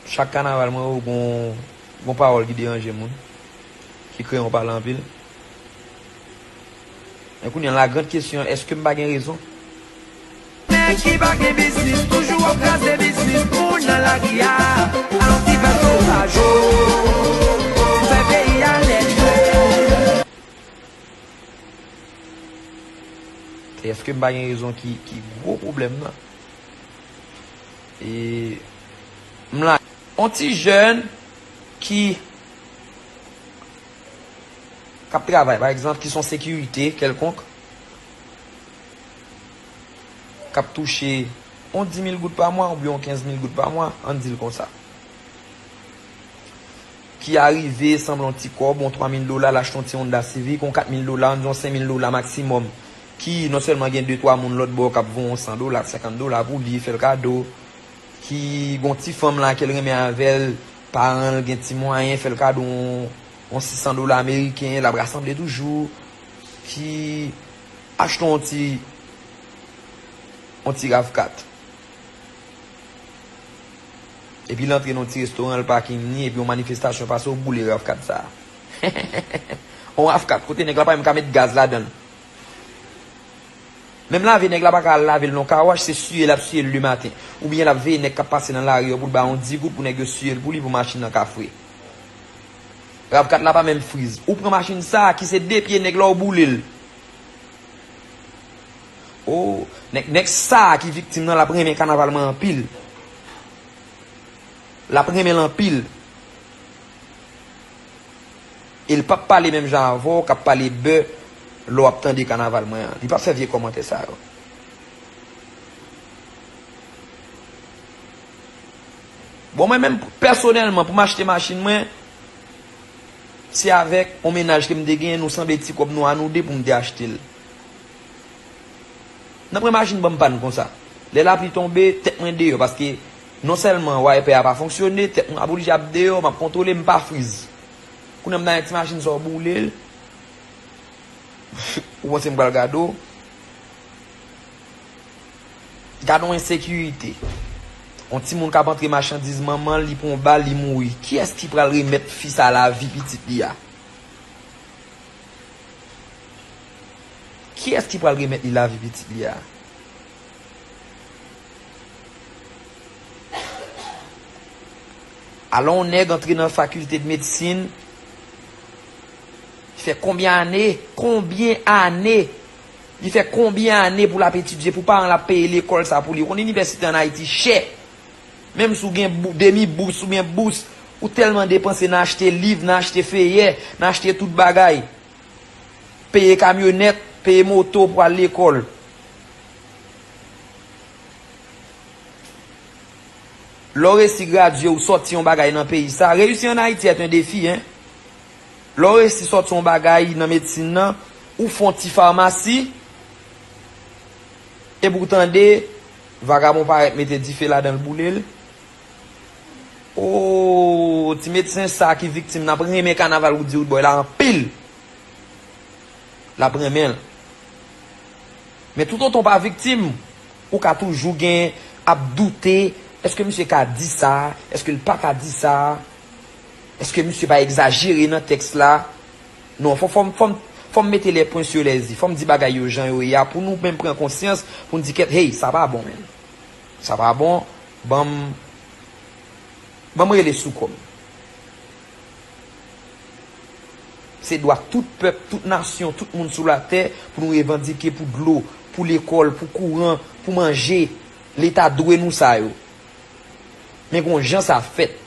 Chak kanaval mwen wè gon pawòl ki deranje moun, ki kreye yon pale anpil. Men kounye an la grande question, eske m pa gen rezon? Nèg ki pa gen biznis toujou ap kraze biznis moun nan lari a Alon ti fè sovaj o Ti fè peyi a lèd o Se eske m pa gen rezon ki gwo pwoblèm nan. E m la. On ti jèn ki k ap travay, pa egzanp, ki s on sekirite kèlkonk, k ap touche on di mil goud pa mwa oubyen on kenz mil goud pa mwa, an n di l konsa, ki arive sanble on ti kòb, on twa mil dola, l achte on ti Honda Civic, on kat mil dola, an n di on sen mil dola maksimòm, ki non sèlman gen de twa moun lòt bò k ap voye yon san dola, senkant dola pou li, fè l kado, ki gen yon ti fanm la ke l renmen avè l, paran l gen ti mwayen, fè l kado yon sisan dola ameriken, l ap rasanble toujou, ki achte yon ti yon ti rav kat. Epi l antre nan yon ti restoran, l pakin ni, epi yon manifestasyon pase, ou boule rav kat sa a. Yon rav kat kote nèg la pa menm ka met gaz ladan l. Menm lave nèg la paka al lavel nan kawash se siye lap siyel le maten ou byen lap veye nèg kap pase nan lari yo poul ba yon di goud pou nèg yo siyel pou li pou machin nan ka fre rav 4 la pa menm friz ou pran machin sa ki se 2 pye nèg la ou boulel oh nèg nèg sa ki viktim nan lap renmen kanaval mwen anpil lap renmenl anpil. E li pap pale menm jan avè w kap pale bè lè w ap tande kanaval mwen an. Li pap fè vye kòmantè sa yo. Bon mwen menm pèsonèlman pou m achte machin mwen, se avèk yon mennaj ke m te genyen nou sanble ti kòb nou a nou 2 pou m te achte l. Nan pwen machin ban m pàn konsa. Lè lapli tonbe, tèt mwen deyò paske non sèlman waypè a pa fonksyone, tèt mwen ap oblije ap deyò, m ap kontwole m pa friz. Kounya m nan yon ti machin sa w boule l. Ou panse m pral gade w. Gade yon ensekirite. Yon timoun k ap antre machandiz manman l, li pran yon bal, li mouri. Kiyès ki pral remèt fi sa lavi pitit li a? Kiyès ki pral remèt li lavi pitit li a? Alon w nèg antre nan fakilte de medsin li fè konbyen ane, konbyen ane, li fè konbyen ane pou l ap etidye pou paran l ap peye lekòl sa pou li. Ou konn inivèsite an Ayiti chè. Menm si w gen demi bous, ou gen bous, ou tèlman depanse nan achte liv, nan achte feyè, nan achte tout bagay. peye kamyonèt, peye moto pou al lekòl. Lè w resi gradye ou sòti yon bagay nan peyi sa, reyisi an Ayiti est un défi hein. Lè w resi sòti yon bagay nan medsin nan, ou fè yon ti farmasi, epi w tande vagabon parèt mete dife ladan l boule l. Ooh ti medsen sa ki viktim nap renmen kanaval roody roodboy la anpil lap renmenl men tout otan w pa viktim ou ka toujou gen ap doute eske misye ka di sa eske l paka di sa eske misye pa egzajere nan tèks la non fòm mete lè pwen sou lè zi fòm di bagay yo jan yo ye a pou nou menm pran konsyans pou n di kèt hey sa pa bon menm. Sa pa bon banm banm rele sou kòm. Se dwa tout pèp, tout nasyon, tout moun sou latè pou nou revandike pou dlo, pou lekòl, pou kouran, pou manje. Leta dwe nou sa yo. Men gon jan sa fèt.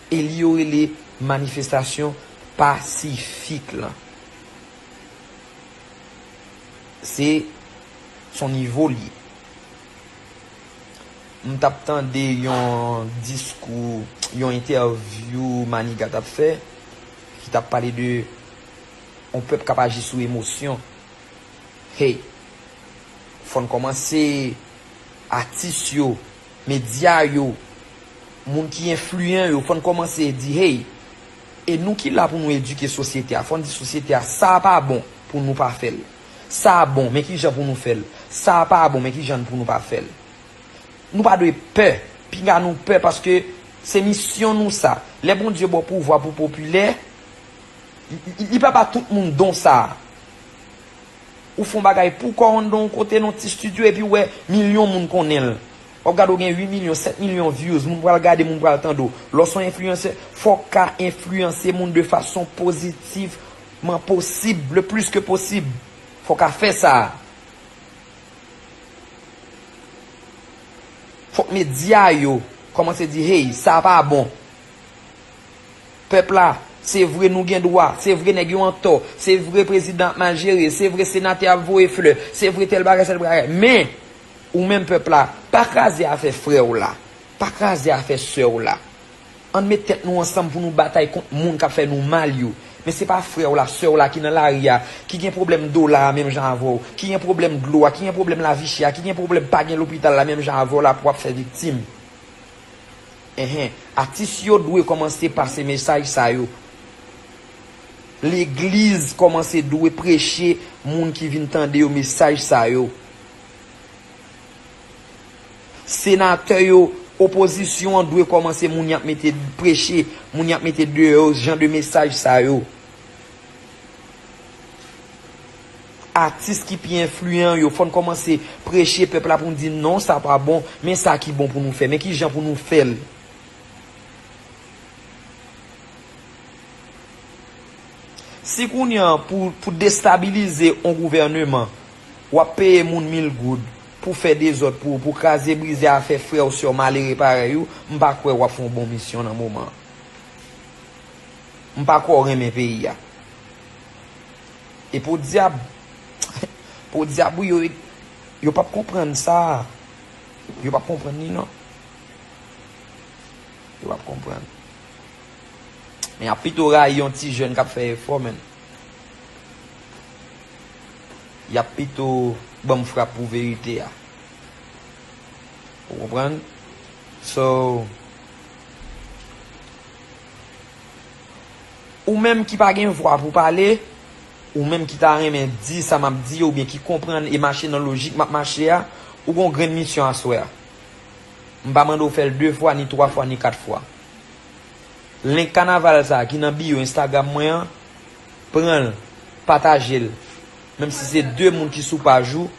E li yo rele manifestasyon pasifik lan. Se son nivo li ye. M tap tande yon diskou, yon entèvyou Maniga tap fè, ki tap pale de yon pèp kap aji sou emosyon. Hey! Fò n kòmanse, atis yo, medya yo, moun ki enfliyan yo, fò n kòmanse di hey! E nou ki la pou nou edike sosyete a, fò n di sosyete a, sa a pa bon, pou nou pa fè l. Sa a bon, men ki jan pou nou fè l. Sa a pa bon, men ki jan n pou nou pa fè l. Nou pa dwe pè. Pinga nou pè paske se misyon nou sa. Lè Bondye ba w pouvwa pou w popilè, li pa ba tout moun don sa a. Ou fè yon bagay pou kò w anndan yon kote, nan yon ti stidyo, epi ou wè milyon moun konnen l. Wap gade w gen 8 milyon, 7 milyon views, moun pral gade, moun pral tande w. Lè w se yon influencer, fò w ka enfliyanse moun de fason pozitivman posib, le plis ke posib. Fò w ka fè sa a. Fòk medya yo kòmanse di hey, sa a pa bon. Pèp la, se vre nou gen dwa, se vre nèg yo antò, se vre prezidan ap mal jere, se vre senatè ap voye flè, se vre tèl bagay sèl bagay. Men! Ou menm pèp la, pa kraze afè frè w la, pa kraze afè sè w la. Ann met tèt nou ansanm pou nou batay kont moun k ap fè nou mal yo. Men se pa frè w la, sè w la ki nan lari a, ki gen pwoblèm dola a menm jan avè w, ki gen pwoblèm dlo a, ki gen pwoblèm lavichè a, ki gen pwoblèm pa gen lopital la menm jan avè w la pou w ap fè viktim. Enhen, atis yo dwe kòmanse pase mesaj sa yo. Legliz kòmanse dwe preche moun ki vin tande yo mesaj sa yo. Senatè yo, opozisyon an dwe kòmanse moun yap mete preche, moun yap mete deyò yo jan de mesaj sa yo. Atis ki pi enfliyan yo fòn kòmanse preche pèp la poun di non sa pa bon, men sa ki bon pou nou fè, men ki jan pou nou fèl. Si kounya pou destabilize on gouvèneman Wap peye moun mil goud pou fè dezòd pou ou, pou kraze brize afè frè ou sè ou malere parèy ou, m pa kwè wap fè yon bon misyon nan moman an. M pa kwè w renmen peyi a. E podyab, podyab wi yo e yo pap konprann sa a. Yo pap konprann li non. Yo pap konprann. Men yap pito rayi yon ti jèn kap fè efò menn. Yap pito banm frap pou verite a. Ou konprann? So, ou menm ki pa gen vwa pou pale, ou menm ki ta renmen di sa map di yo oubyen ki konprann e mache nan lojik map mache a, ou gen yon grenn misyon aswè a. M pa mande w fè l 2 fwa, ni 3 fwa, ni 4 fwa. Link kanaval sa ki nan bio Instagram mwen an, pranl patajel menm si se 2 moun ki sou paj ou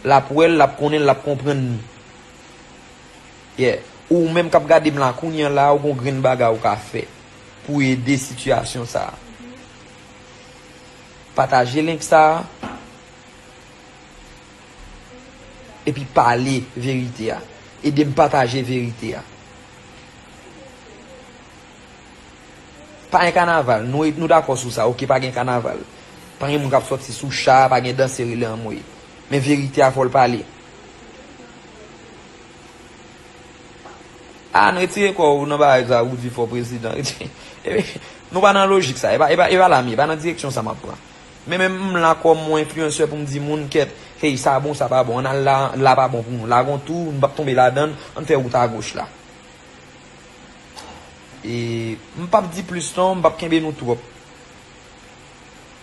lap wèl lap konnenl lap konprann li yeah ou menm kap gadem la kounya la ou gon grenn bagay ou ka fè pou ede sitiyasyon sa pataje link sa epi pale verite a edem pataje verite a. Pa gen kanaval, nou dakò sou sa ok pa gen kanaval. Pa gen moun kap sòti sou cha, pa gen danse rele anmweyy. Men verite a fòl pale. Ann retire kò ou nan bagay sa ou di fò prezidan. Nou pa nan lojik sa, e pa la m ye, e pa nan direksyon sa map pran. Men menm m la kòm yon enfliyansè pou m di moun kèt, hey sa bon sa pa bon, ann al la, la pa bon pou nou, la gon tou, nou pap tonbe ladann, ann fè wout agoch la. E m pap di plis non, m pap kenbe nou twòp.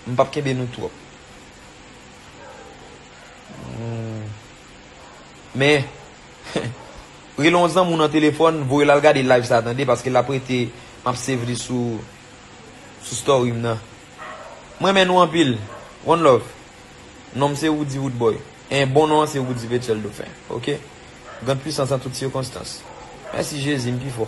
M pap kenbe nou twòp. Men, rele yon zanmi w nan telefòn, voye l al gade live sa tande, paske l ap rete, m ap save li sou story m nan. M renmen nou anpil. One love. Non m se Roody Roodboy. Hein bon non an se Roody Vechel Dauphin ok Grande puissance en toutes circonstances Merci Jezi m pi fò.